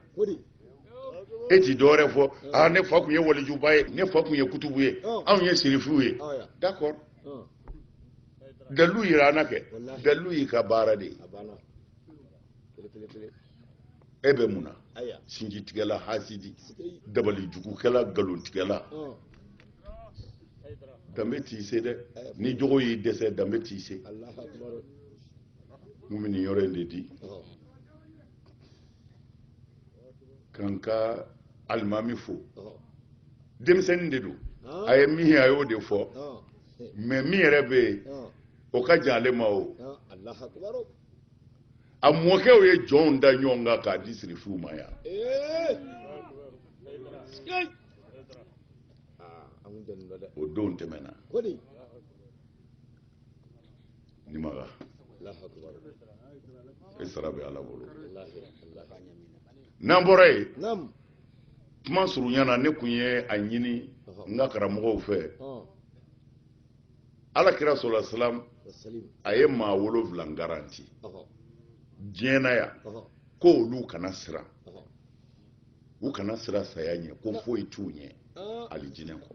e ti dɔwɛrɛ fɔ aa ne fa tun ye walijuba ye ne fa tun ye kutubu ye anw ye sirifiw ye d'accord dalilu yira an na kɛ dalilu y'i ka baara de ye e bɛ mun na sinjitigɛla hasidi dabali jugukɛla nkalontigɛla danbe t'i se dɛ ni jogo y'i dɛsɛ danbe t'i se mun bɛ nin yɔrɔ in de di k'an ka alimami fo denmisɛnnin de don a ye min ye a y'o de fɔ mais min yɛrɛ bɛ yen o ka jan ale ma o a mɔkɛw ye jɔnw da ɲɔgɔn kan k'a di sirifuw ma yan o don tɛmɛna nimaga e sara bɛ ala bolo n'an bɔra yen kuma surunya na ne kun ye a ɲini n ka karamɔgɔw fɛ alakira sallallahu alaihi wasallam a ye maa wolonwula garanti diɲɛ na yan ko olu kana siran u kana siran saya ɲɛ ko foyi t'u ɲɛ alijinɛ kɔ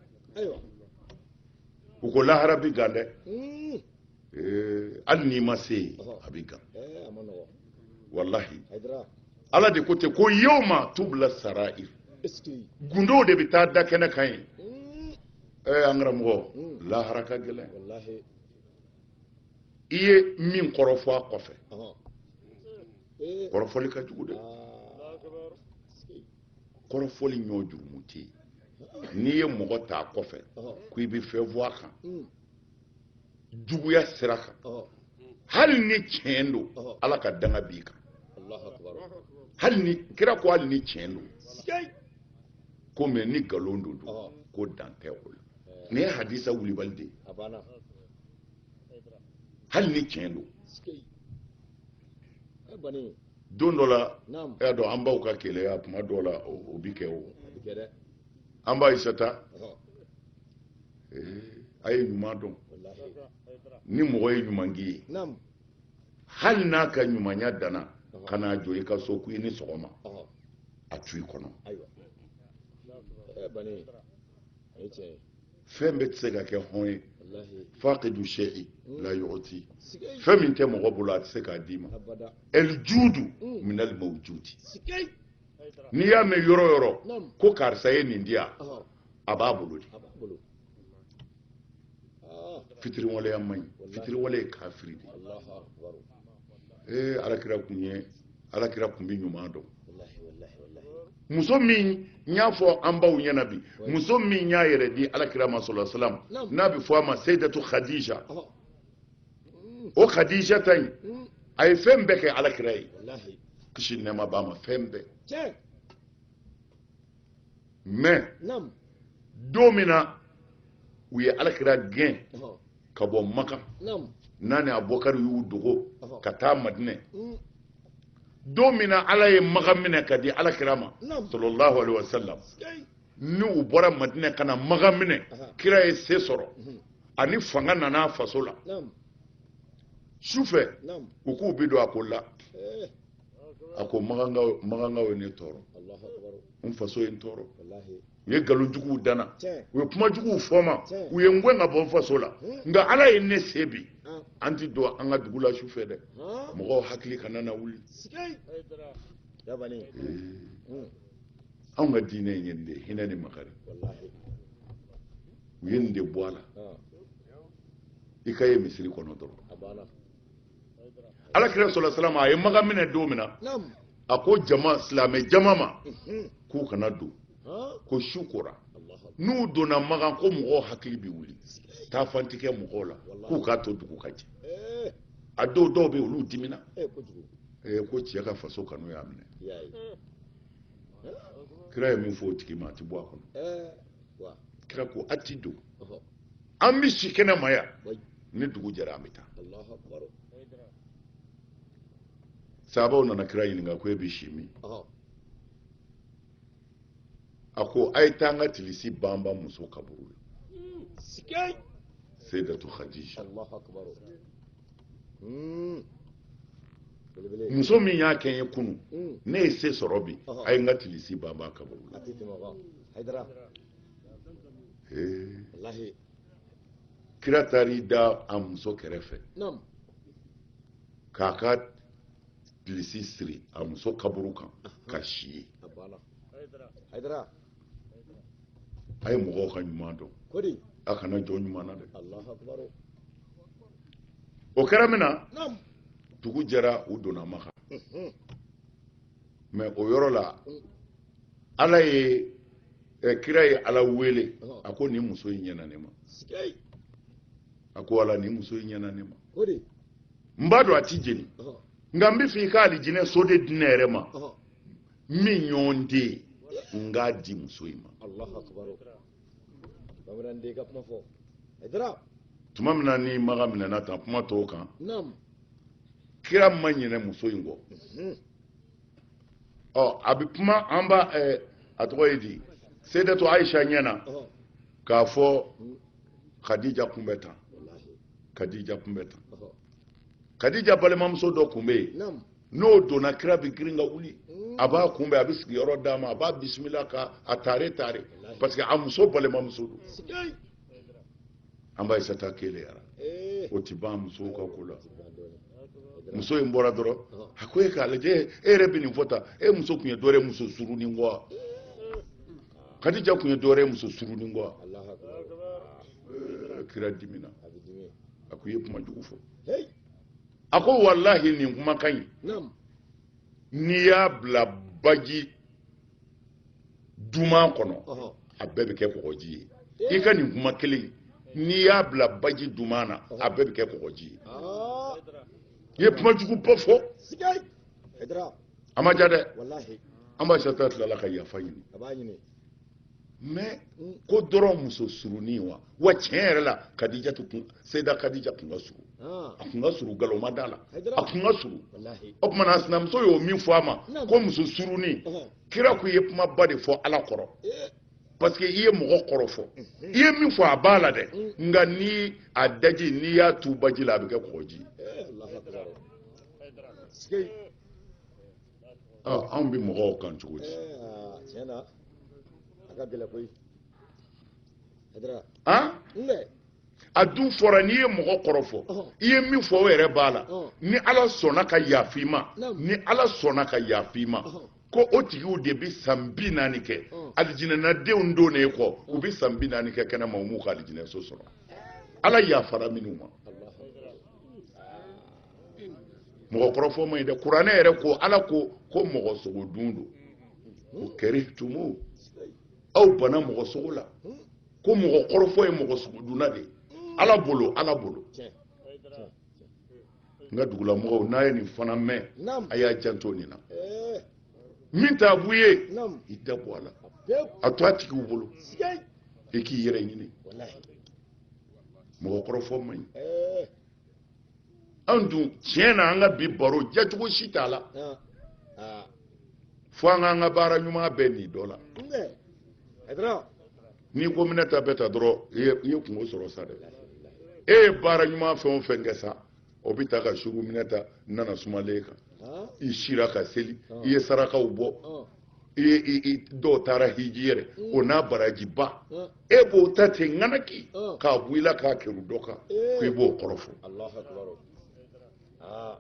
u ko lahara bi gan dɛ hmm. eh, hali n'i ma se yen a bi gan eh, walahi ala de ko ten ko yawma tubla sara'ir gundow de bɛ taa da kɛnɛ kan ye hmm. eh, an karamɔgɔ hmm. lahara ka gɛlɛn i ye min kɔrɔfɔ a kɔfɛ kɔrɔfɔli ka jugu dɛ kɔrɔfɔli ɲɔ jurumu tɛ yen n'i ye mɔgɔ ta a kɔfɛ ko i bɛ fɛn fɔ a kan juguya sira kan hali ni tiɲɛ don ala ka danga b'i kan hali ni kira ko hali ni tiɲɛ don ko mais ni nkalon don dun ko dan tɛ o la nin ye hadisa wulibali de ye hali ni tiɲɛ don don dɔ la e y'a dɔn an baw ka keleya tuma dɔw la o bi kɛ o an ba aisata a ye ɲuman dɔn ni mɔgɔ ye ɲuman k'i ye hali n'a ka ɲumanya danna ka n'a jɔ i ka so k'i ni sɔgɔma a to i kɔnɔ fɛn bɛɛ tɛ se ka kɛ hɔn ye faqidu shay'i hmm. la yu'ti fɛn min tɛ mɔgɔ bolo a tɛ se k'a d'i ma el judu hmm. min al mawjudi n'i y'a mɛn yɔrɔ yɔrɔ ko karisa ye nin di yan a b'a bolo de fitiriwaleya man ɲi fitiriwale ye kafiri de ye ee alakira kun ye alakira kun bɛ ɲuman dɔn muso min n y'a fɔ an baw ɲɛna bi muso min y'a yɛrɛ di alakira ma sallallahu alaihi wasallam n'a bɛ fɔ a ma seyidatu khadija o khadija ta in a ye fɛn bɛɛ kɛ alakira ye kisi nɛɛma b'a ma fɛn bɛɛ mais don min na u ye alakira gɛn ka bɔ maka n'a ni abubakari y'u dogo ka taa madinɛ mm. don min na ala ye maka minɛ ka di alakira ma sallallahu alaihi wa sallam ni u bɔra madinɛ ka na maka minɛ kira ye se sɔrɔ mhm. ani fanga nana faso la sufɛ u k'u bi don a ko la eh. a ko makankaw ye ne tɔɔrɔ n faso ye n tɔɔrɔ u ye nkalon juguw da n na u ye kuma juguw fɔ n ma u ye n gɛn ka bɔ n faso la nka ala ye ne se bi an ti don an ka dugu la su fɛ dɛ mɔgɔw hakili kana na wuli anw ka diinɛ in ye nin de ye hinɛ ni makari u ye nin de bɔ a la i ka ye misiri kɔnɔ dɔrɔn ala kira sallallahu alaihi wa sallam a ye maka minɛ don min na a ko jama silamɛ jama ma mhm. k'u kana don ko su kora n'u donna makan ko mɔgɔw hakili bɛ wuli taa fantikɛ mɔgɔw la k'u k'a to dugu ka jɛ eh. a dɔw dɔw bɛ olu dimina eh, eh, ko cɛ ka faso kanu y'a minɛ kira ye min fɔ o tigi ma a ti bɔ a kɔnɔ kira ko a ti don an bɛ si kɛnɛ ma yan ni dugu jɛra an bɛ taa sahabaw nana kira ɲininka ko e bɛ si min a ko a ye taa n ka tilisi banban muso kaburu la seyidatu khadija hmm. muso min y'a kɛ n ye kunun hmm. ne ye se sɔrɔ bi a ye n ka tilisi banban a kaburu la kira taara i da a muso kɛrɛfɛ k'a ka tilisi siri a muso kaburu kan ka si yen a ye mɔgɔw ka ɲuman dɔn a kana jɔ ɲuman na dɛ o kɛra min na dugu jɛra u donna makan mais o yɔrɔ la ala ye eh, kira ye ala wele a ko nin muso in ɲɛna ne ma a ko ala nin muso in ɲɛna ne ma n b'a dɔn a ti jeni nka n b'a fɛ i ka alijinɛ so de di ne yɛrɛ ma min ɲɔgɔn tɛ yen n k'a di muso in ma tuma min na ni maka minɛna tan kuma tɔw kan kira ma ɲinɛ muso in kɔ mhm. ɔ a bɛ kuma an ba ɛɛ a tɔgɔ ye di seydatu ayisa ɲɛ na k'a fɔ kadija kun bɛ tan kadija kun bɛ tan kadija balimamuso dɔ kun bɛ yen n'o donna kira bɛ girin ka wuli mm. a b'a kunbɛn a bɛ sigiyɔrɔ d'a ma a b'a bisimila ka a taare taare parce que a muso balimamuso don an ba ayisata keleyara eh. o ti ban musow ka ko la muso in bɔra dɔrɔn a ko e k'a lajɛ e yɛrɛ bɛ nin fɔ tan e muso tun ye dɔ wɛrɛ muso surunin kɔ kadija tun ye dɔ wɛrɛ muso surunin kɔ kira dimina a ko i ye kuma jugu fɔ a ko walahi nin kumakan in n'i y'a bila baji duman kɔnɔ a bɛɛ bɛ kɛ kɔgɔji ye i ka nin kuma kelen n'i y'a bila baji duman na a bɛɛ bɛ kɛ kɔgɔji ye ah. i ye kuma juguba fɔ a ma ja dɛ an ba ayisata tilala ka yafa ɲini mais ko dɔrɔn muso surunin wa wa tiɲɛ yɛrɛ la kadija tun seyida kadija tun ka surun ah. a tun ka surun galon ma d'a la a tun ka surun o tuma na sinamuso y'o min fɔ a ma ko muso surunin kira ko i ye kumaba de fɔ ala kɔrɔ eh. parce que i ye mɔgɔ kɔrɔfɔ i ye min fɔ a b'a la dɛ mm. nka ni a daji n'i y'a tu baji la a bɛ kɛ kɔgɔji eh, anw bɛ mɔgɔw kan cogo di tiɲɛ na a ka gɛlɛn koyi a dun fɔra n'i ye mɔgɔ kɔrɔfɔ i ye min fɔ o yɛrɛ b'a la ni ala sɔnna ka yafa i ma ni ala sɔnna ka yafa i ma ko o tigiw de bɛ san bi naani kɛ alijinɛnadenw donnen kɔ u bɛ san bi naani kɛ kɛnɛma u m'u ka alijinɛso sɔrɔ ala yafara minnu ma mɔgɔ kɔrɔfɔ man ɲi dɛ kuranɛ yɛrɛ ko ala ko ko mɔgɔ sogo dun don ko karihtumu aw banna mɔgɔ sogo la ko mɔgɔ kɔrɔfɔ ye mɔgɔ sogo dunna de ala bolo ala bolo n ka dugulamɔgɔw n'a ye nin fana mɛn a y'a janto nin na min t'a bu ye i da bɔ a la a to a tigiw bolo i k'i yɛrɛ ɲini mɔgɔ kɔrɔfɔ man ɲi an dun tiɲɛ na an ka bi baro jacogo si t'a la fo an k'an ka baara ɲuman bɛɛ ni dɔ la n'i ko minata bɛ tan dɔrɔn i ye kunko sɔrɔ sa dɛ e ye baara ɲuman fɛn o fɛn kɛ sa o bɛ taa ka sugu minata n nana sumalen kan i sira ka seli i ye sarakaw bɔ i dɔw taara hiji yɛrɛ o n'a barajiba e b'o ta ten ŋanaki ah. k'a bɔ i la k'a kɛrun dɔ kan eh. ko i b'o kɔrɔfɔ ah.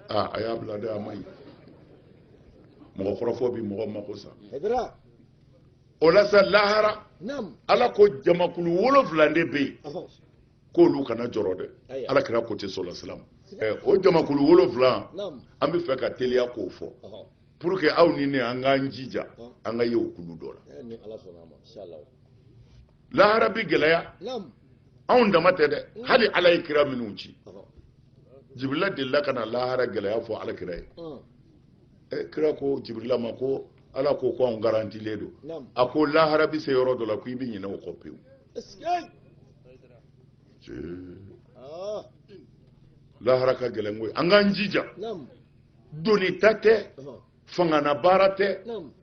ah, a y'a bila dɛ a ma ɲi mɔgɔ kɔrɔfɔ bi mɔgɔ mako sa o la sa lahara ala ko jamakulu wolonfila de bɛ yen k'olu kana jɔrɔ dɛ ala kira ko ten sɔlɔ salam eh, o jamakulu wolonfila an bɛ fɛ ka teliya k'o fɔ pour que aw ni ne an k'an jija an ka ye o kulu dɔ la lahara bi gɛlɛya anw dama tɛ dɛ hali ala ye kira minnu ci jibirila delila ka na lahara gɛlɛya fɔ ala kira ye eh, kira ko jibirila ma ko ala ko ko anw garantilen don a ko lahara bi se yɔrɔ dɔ la ko i bɛ ɲinɛ o kɔ pewu ah. lahara ka gɛlɛn koyi an k'an jija donita tɛ fanganabaara tɛ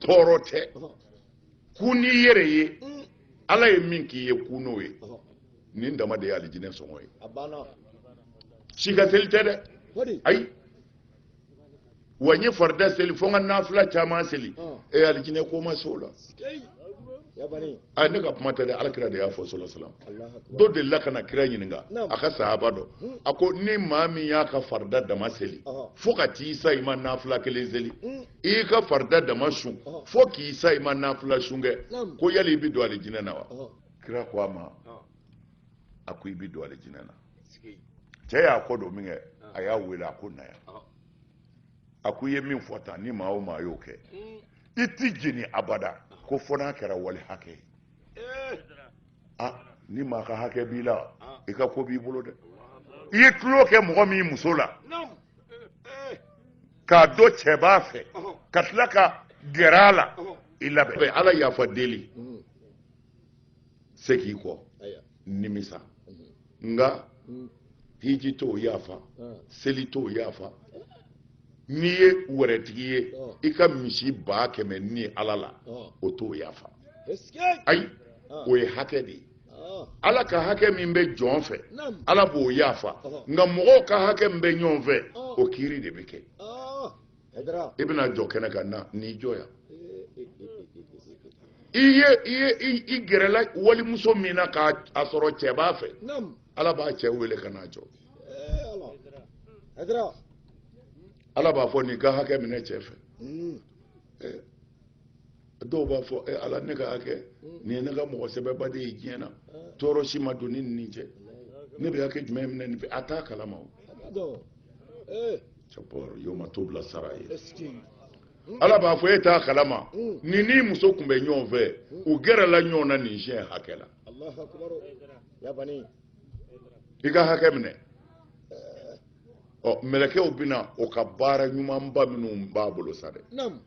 tɔɔrɔ tɛ ku n'i yɛrɛ ye mm. ala ye min k'i ye ku n'o ye nin dama de ye alijinɛ sɔngɔ ye si ka seli tɛ dɛ ayi wa n ye farida seli fo n ka nafila caman seli e alijinɛ ko ma se o la a ne ka kuma tɛ dɛ alakira de y'a fɔ sɔlɔ salam dɔ delila ka na kira ɲininka a ka sahaba dɔ hmm. a ko ni maa min y'a ka farida dama seli fo ka t'i sa i ma nafila kelen seli hmm. i y'i ka farida dama sun fo k'i sa i ma nafila sun kɛ ko yali i bɛ don alijinɛ na wa kira ko a ma a ko i bɛ don alijinɛ na cɛ y'a kɔ don min kɛ a y'a wele a ko na yan a ko i ye min fɔ tan ni maa o maa y'o kɛ hmm. i ti jeni abada ko fo n'a kɛra wali hakɛ ye eh. ah, ni maa ka hakɛ b'i la ah. i ka ko b'i bolo dɛ i ye tulon kɛ mɔgɔ min muso la eh. k'a dɔn cɛ b'a fɛ ka tila ka gɛrɛ a la i labɛn ala yafa deli mm. seg'i kɔ nimisa nka hiji t'o yafa seli t'o yafa n'i ye wɛrɛtigi ye i ka misi baa kɛmɛ ni ala la o t'o yafa ayi o ye hakɛ de ye ala ka hakɛ min bɛ jɔn fɛ ala b'o yafa nka mɔgɔw ka hakɛ min bɛ ɲɔgɔn fɛ o kiri de bɛ kɛ i bɛna jɔ kɛnɛ kan na n'i jɔ yan i ye i ye i gɛrɛla walimuso min na k'a sɔrɔ cɛ b'a fɛ ala b'a cɛ wele ka n'a jɔ ala b'a fɔ nin ka hakɛ minɛ cɛ fɛ dɔw b'a fɔ e ala ne ka hakɛ nin ye ne ka mɔgɔ sɛbɛba de ye diɲɛ na tɔɔrɔ si ma don n ni nin cɛ ne bɛ hakɛ jumɛn minɛ nin fɛ a t'a kalama o cɛbɔrɔ y'o ma to bila sara ye ala b'a fɔ e t'a kalama hmm. nin n'i muso tun bɛ ɲɔgɔn fɛ hmm. u gɛrɛla ɲɔgɔn na nin siɲɛ hakɛ la i ka hakɛ minɛ ɔ mɛlɛkɛw bɛna o ka baara ɲumanba minnu b'a bolo sa dɛ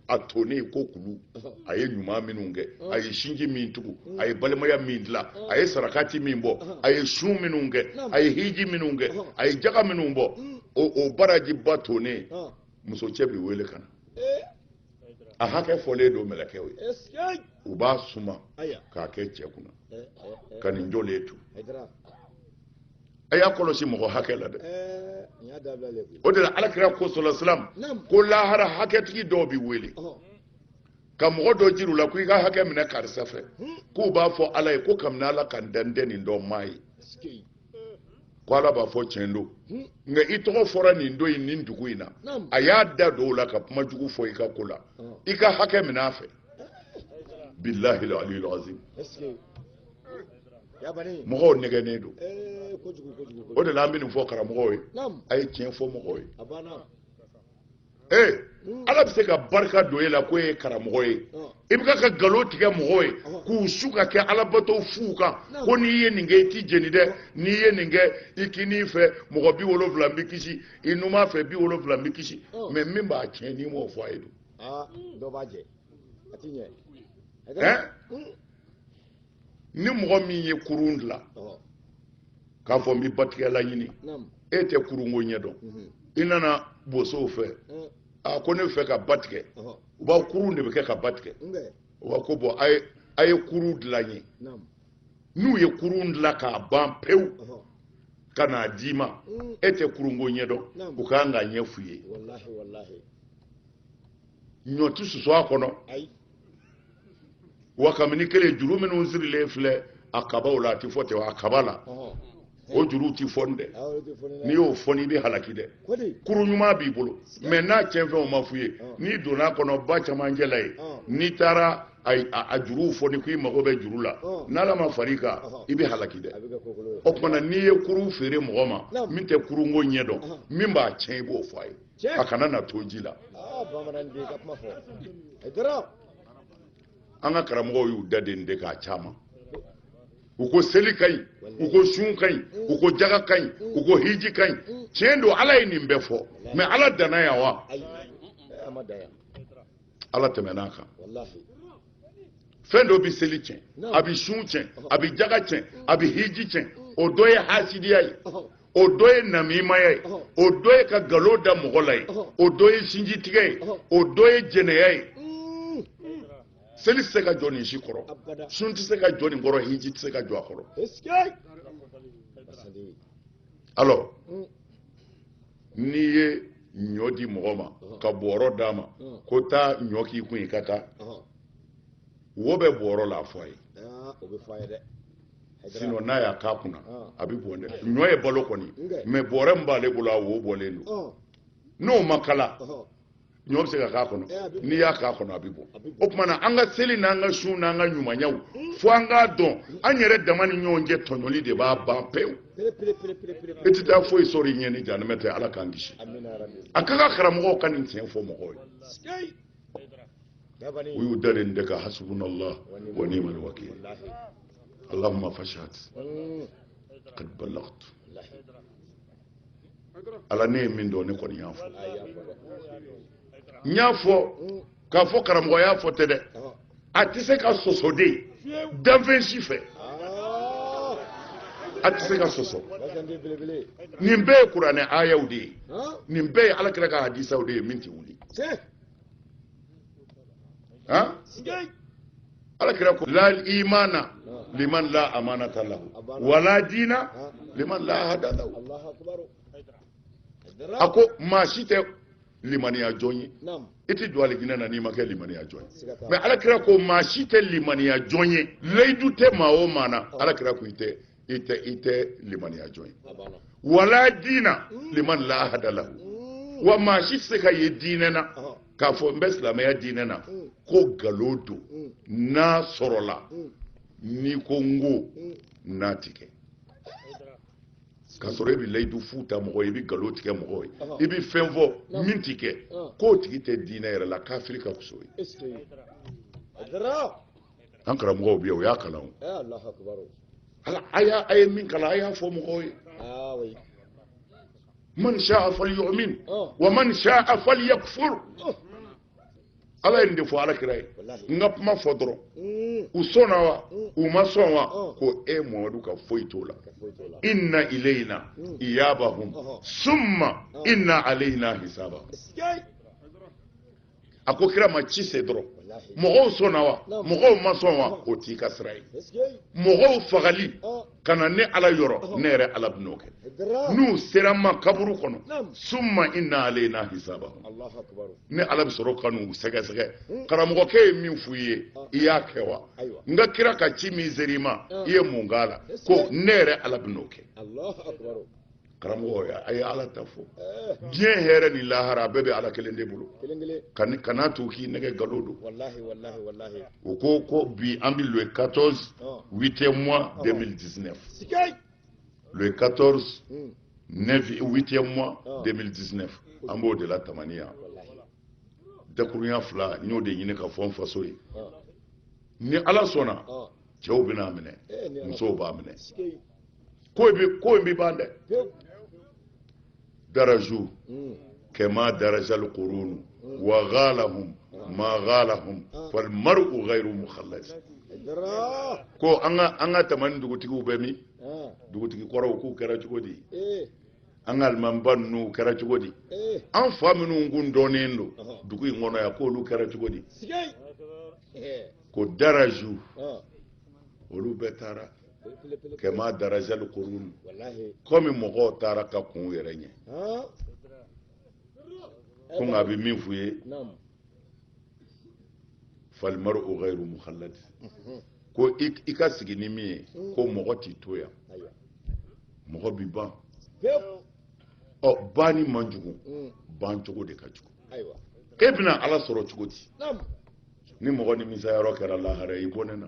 a tonnen i ko kulu a ye ɲuman minnu kɛ a ye sinji min tugu a ye balimaya min dilan a ye sarakati min bɔ a ye sun minnu kɛ a ye hiji minnu kɛ a ye jaga minnu bɔ o barajiba tonnen muso cɛ bɛ wele ka na a hakɛ fɔlen don mɛlɛkɛw ye u b'a suma k'a kɛ cɛ kunna ka nin jɔlen to a y'a kɔlɔsi mɔgɔ hakɛ la dɛ o de la alakira ko sɔlɔ salam ko lahara hakɛtigi dɔw bɛ wele ka mɔgɔ dɔ jira u la ko i ka hakɛ minɛ karisa fɛ k'u b'a fɔ ala ye ko kabini ala ka n dan n tɛ nin dɔn n m'a ye ko ala b'a fɔ tiɲɛ don nka i tɔgɔ fɔra nin don in nin dugu in na a y'a da don o la ka kuma jugu fɔ i ka ko la i ka hakɛ minɛ a fɛ bilahi aliyul azim mɔgɔw nɛgɛnnen don o de la an bɛ nin fɔ karamɔgɔw ye a ye tiɲɛ fɔ mɔgɔw ye ee ala bɛ se ka barika don e la ko e ye karamɔgɔ ye i bɛ ka nkalon tigɛ mɔgɔw ye k'u su ka kɛ alabato fu kan ko n'i ye nin kɛ i tɛ jeni dɛ n'i ye nin kɛ i kinin fɛ mɔgɔ bi wolonwula bɛ kisi i numan fɛ bi wolonwula bɛ kisi mɛ min b'a tiɲɛ n'i m'o fɔ a ye dun. dɔ b'a jɛ a ti ɲɛ. ni mɔgɔ min ye kurun dilan k'a fɔ n bɛ batigɛlan ɲini e tɛ kurunko ɲɛ dɔn mhm. i nana bosow fɛ eh. a ko ne fɛ ka ba tigɛ u b'a kurun de bɛ kɛ ka ba tigɛ u b'a ko bɔn a ye kurun dilan n ye n'u ye kurun dilan k'a ban pewu ka n'a d'i ma mm. e tɛ kurunko ɲɛ dɔn u kan k'a ɲɛ f'i ye ɲɔ tɛ susu a kɔnɔ wa kabini kelen juru minnu sirilen filɛ a kabaw la a tɛ fɔ ten a kaba la o juruw tɛ fɔni dɛ n'i y'o fɔni i bɛ halaki dɛ kurun ɲuman b'i bolo mɛ n'a cɛn fɛnw ma f'i ye n'i donn'a kɔnɔ ba camancɛ la yen n'i taara a juruw fɔni k'i mago bɛ juru la n'ala ma far'i kan i bɛ halaki dɛ o tuma na n'i ye kurun feere mɔgɔ ma min tɛ kurunko ɲɛ dɔn min b'a cɛn i b'o fɔ a ye a kana na to ji la an ka karamɔgɔw y'u da den de k'a caman u ko seli ka ɲi u ko sun ka ɲi u ko jaga ka ɲi u ko hiji ka ɲi tiɲɛ don ala ye nin bɛɛ fɔ mɛ ala danna yan wa ala tɛmɛn'a kan fɛn dɔ bɛ seli tiɲɛ a bɛ sun tiɲɛ a bɛ jaga tiɲɛ a bɛ hiji tiɲɛ o dɔ ye hasidiya ye o dɔ ye namimaya ye o dɔ ye ka nkalon da mɔgɔ la ye o dɔ ye sinjitigɛ ye o dɔ ye jɛnɛya ye seli tɛ se ka jɔ nin si kɔrɔ sun tɛ se ka jɔ nin kɔrɔ hiji tɛ se ka jɔ a kɔrɔ alors n'i ye ɲɔ di mɔgɔ ma ka bɔɔrɔ d'a ma ko taa ɲɔ k'i kun i ka taa wo bɛ bɔɔrɔ la a fɔ a ye sinon n'a y'a k'a kunna a bɛ bɔn dɛ ɲɔ ye balo kɔni mais bɔɔrɛ min b'ale bolo a wo bɔlen don n'o ma kala ɲɔ bɛ se ka k'a kɔnɔ eh, n'i y'a k'a kɔnɔ a bɛ bɔ o tuma na an ka seli n'an ka sun n'an ka ɲumanyaw hmm. fo an k'a dɔn an yɛrɛ dama ni ɲɔgɔn cɛ tɔɲɔli de b'a ban pewu i tɛ taa foyi sɔrɔ i ɲɛ ni janɛmɛ tɛ ala k'an kisi a ka kan karamɔgɔw ka nin tiɲɛ fɔ mɔgɔw ye u y'u dalen de ka hasbunallah wa ni'mal wakil allahumma fashhad hmm. qad ballagtu ala ne ye min dɔn ne kɔni y'a fɔ n y'a fɔ k'a fɔ karamɔgɔ y'a fɔ tɛ dɛ a tɛ se ka sɔsɔ dɛ danfɛn si fɛ a tɛ se ka sɔsɔ nin bɛɛ ye kuranɛ ayaw de ye nin bɛɛ ye ala kira ka hadisaw de ye min tɛ wuli ha ala kira ko la imana liman la amanata lahu wala dina liman la ahda lahu a ko maa si tɛ limaniya jɔn ye i tɛ don alijinɛ na n'i ma kɛ limaniya jɔn ye mais ala kira ko maa si tɛ limaniya jɔn ye layidu tɛ maa o maa na ala kira ko i tɛ i tɛ i tɛ limaniya jɔn ye wala diina mm. liman la ahda lahu mm. wa maa si tɛ se ka ye diinɛ na k'a fɔ n bɛ silamɛya diinɛ na mm. ko nkalon don n'a sɔrɔla n'i ko n ko n'a ti kɛ k'a sɔrɔ e bɛ layidu fu ta mɔgɔ ye i bɛ nkalon tigɛ mɔgɔ ye i bɛ fɛn fɔ min ti kɛ k'o tigi tɛ diinɛ yɛrɛ la kafiri ka fisa o ye. an karamɔgɔw bɛ yen o y'a kalan o ala a y'a a ye min kalan a y'a fɔ mɔgɔw ye ah, man sha'a falyu'min oh. wa man sha'a falyakfur oh. ala ye nin de fɔ ala kira ye n ka kuma fɔ dɔrɔn mm. u sɔnna wa mm. u ma sɔn wa oh. ko e mamadu ka foyi t'o la inna ilayna mm. iyabahum summa inna alayna hisabahum a ko kira ma ci se dɔrɔn mɔgɔw sɔnna wa mɔgɔw ma sɔn wa o t'i ka sira ye mɔgɔw fagali ka na ne ala yɔrɔ ne yɛrɛ ala bɛn'o kɛ n'u sera n ma kaburu kɔnɔ summa inna alayna hisabahum ne ala bɛ sɔrɔ ka n'u sɛgɛsɛgɛ hmm. karamɔgɔkɛ ye min f'u ye i y'a kɛ wa n ka kira ka ci min sera i ma i ye mun k'a la ko ne yɛrɛ ala bɛn'o kɛ karamɔgɔ a ye ala ta fɔ diɲɛ hɛrɛ ni lahara bɛɛ bɛ ala kelen de bolo kana to u k'i nɛgɛn nkalon don u ko ko bi an bɛ le 14 8e mois 2019 le 14 8e mois 2019 an b'o de la tamani yan dakurunya fila n y'o de ɲini ka fɔ n faso ye ni ala sɔnna cɛw bɛn'a minɛ musow b'a minɛ ko in bɛ ko in bɛ ban dɛ daraju hmm. kama darajal qurunu hmm. wa ghalahum ma ghalahum ah. fal mar'u ghayru mukhallad ko an ka an ka tamani dugutigiw bɛ min ah. dugutigi kɔrɔw k'u kɛra cogo di eh. an ka alimamiba ninnu kɛra cogo di eh. an fa minnu kun dɔnnen don dugu in kɔnɔ yan k'olu kɛra cogo di eh. ko daraju olu bɛɛ taara kama darajal qurun kɔmi mɔgɔw taara ka kɔn u yɛrɛ ɲɛ ko nka a bɛ min f'u ye fal mar'u ghayru mukhalladi ko i ka sigi ni min ye ko mɔgɔ tɛ to yan mɔgɔ bɛ ban ɔ banni man jugu ban cogo de ka jugu ayiwa e bɛna ala sɔrɔ cogo di ni mɔgɔ nimisayɔrɔ kɛra lahara i bɔnɛna